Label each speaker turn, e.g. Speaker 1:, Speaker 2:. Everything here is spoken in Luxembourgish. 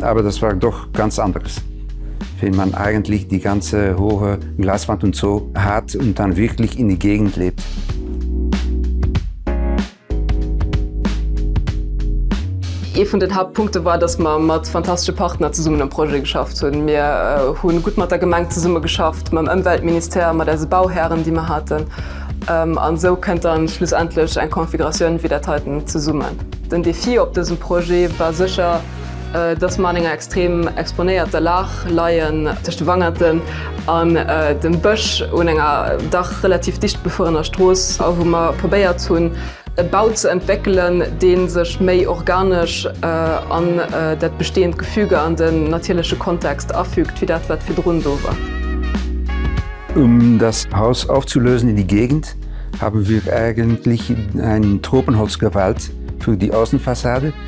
Speaker 1: Aber das war doch ganz anderes, wenn man eigentlich die ganze hohe Glaswand und so hat und dann wirklich in die Gegend lebt.
Speaker 2: Ee vun den Hauptpunkte war, dass mer mat fantastesche Partner zesummen um Projet geschafft hunn. Mir hu gutt mat der Gemeng zesummegeschafft, mam Ëmweltministère, mat eise Bauhären, déi mer haten. An esou kënnt dann schlussendlech eng Configuratioun wéi dat heiten zesummen. Den Defi op dësem Projet war sécher, Dass mer an enger extrem exponéierter Lag leien, tëscht de Wangerten an dem Bësch un enger dach relativ dicht befuerener Strooss, a wou mer probéiert hunn, e Bau ze entwéckelen, dee sech méi organesch an dat bestehend Gefüge an den natierleche Kontext afügt, wéi dat, wat virdrun do war.
Speaker 1: Um das Haus aufzulösen in die Gegend haben wir eigentlich ein Tropenholz gewählt für die Außenfassade.